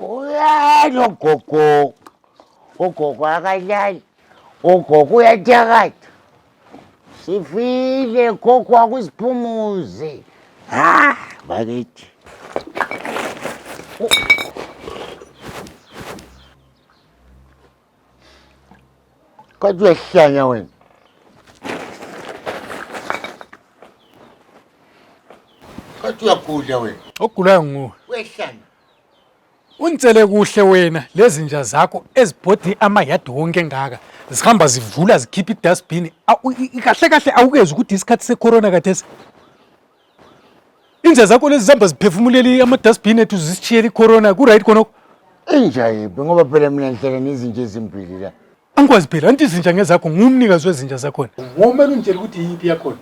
Uyani ogogo? Ogogo akalali. Ogogo uyathakatha. Sifile gogo akusiphumuze. Ha, bakithi. Kodwa uyahlanya wena. Kodwa uyagudla wena. Ogulayo nguwe. Uyahlanya. Unitsele kuhle wena lezi nja zakho ezibhodini amayadi wonke engaka zihamba zivula zikhipha idustbin kahle kahle awukezi ukuthi isikhathi secorona kathesi Inja zakho lezi zihamba ziphefumuleli ama-dustbin ethu zisishiyela i-corona ku-right khonokho Inja yiphi ngoba phela mina ngihlala nezinja ezimbili la. angikwazi phela anti izinja ngezakho ngumnikazi wezinja zakhona ngomele ungitshela ukuthi yiyiphi yakhona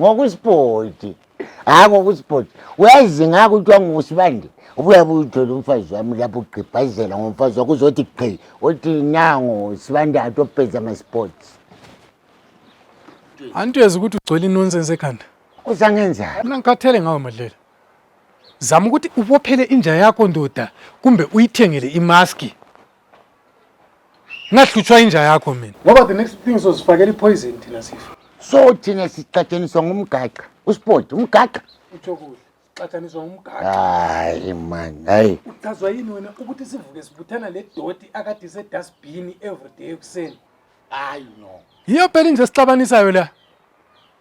Ngokusipoti. Hayi ngokusipoti. Uyazi ngakho kuthiwa ngusibande. Ubuya buyithola umfazi wami lapho ugqibhazela ngomfazi wakho uzothi gqi. Othi nango sibande atopeza ama-sports. anti uyeza ukuthi ugcwele inonsense ekhanda uzangenzani mina ngikhathele ngawe madlela zama ukuthi ubophele inja yakho ndoda kumbe uyithengele imaski ngahlutshwa inja yakho mina ngoba the next thing sozifakela ipoison thina sifa so thina sicatshaniswa ngumgaqa usport umgaqa utsho kuhle xatshaniswa ngumgaqa hayi mani hayi uchazwa yini wena ukuthi sivuke sibuthana le doti akade isedustbini everyday ekuseni hayi no yiyo phela inja esixabanisayo la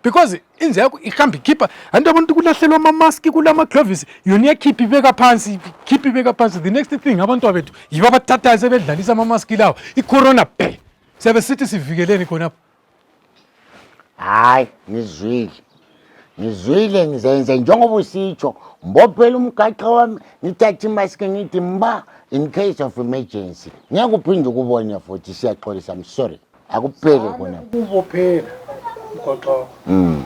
because inja yakho ihamba ikhipha anti abantu kulahlelwa amamaski kula maglovisi yona iyakhipha ibeka phansi khipha ibeka phansi the next thing abantu abethu yibo abathathayo sebedlalisa amamaski lawo icorona bhe siyabe sithi sivikeleni khonapho hayi ngizwile ngizwile ngizenze njengoba usitsho mbophela umgaxa wami ngithathe imaski ngithi mba in case of emergency ngeke uphinde ukubone futhi siyaxolisa i'm sorry akuphele kona kubophela umgaxa wakho mm.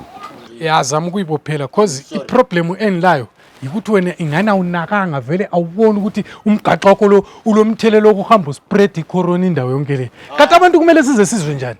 yazama ukuyibophela cause iproblem engilayo yikuthi wena ingane awunakanga vele awuboni ukuthi umgaxo wakho lo ulomthelelo wokuhamba uspread icorona indawo yonke le kati abantu kumele size sizwe njani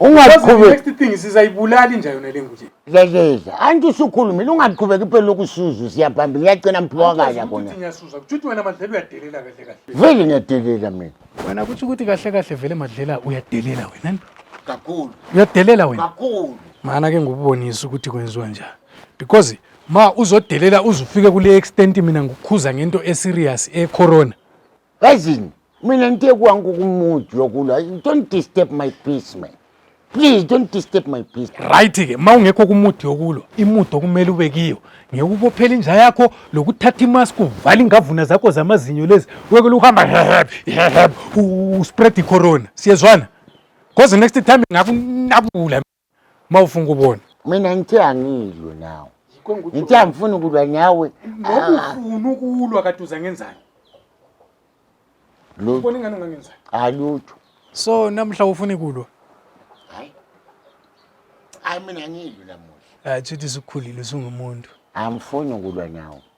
ungaqhubeki next thing sizayibulali nje yona le nguje leleza anti usukhulumile ungaqhubeki phela lokusuza siyabhamba ngiyacina mphiwa kaya kona ngiyasuza kuthi wena madlela uyadelela kahle kahle vele ngiyadelela mina wena kuthi ukuthi kahle kahle vele madlela uyadelela wena kakhulu uyadelela wena kakhulu mana ke ngubonisa ukuthi kwenziwa njani because ma uzodelela uzufike kule extent mina ngikukhuza ngento eserious ecorona Yazini, mina nite kwangu kumuthi yokulwa. Don't disturb my peace man. Please don't disturb my peace. Right ke uma ungekho kumuthi yokulwa, imuthi okumele ube kiyo ngekubophela inja yakho lokuthatha imask uvala ingavuna zakho zamazinyo lezi wekele uhamba heheb heheb uspread icorona. Siyezwana? Because next time ngakunabula uma ufunga ubone mina ngithe angilwe nawe ngithe angifuni ukulwa nawe ngoba ufuna ukulwa kade uza ngenzani lutho ubona ingane ungangenzani hayi lutho so namhla ufuna ikulwa hayi hayi mina ngilwe namuhla hayi chithi sikukhulile usungumuntu angifuni ukulwa nawe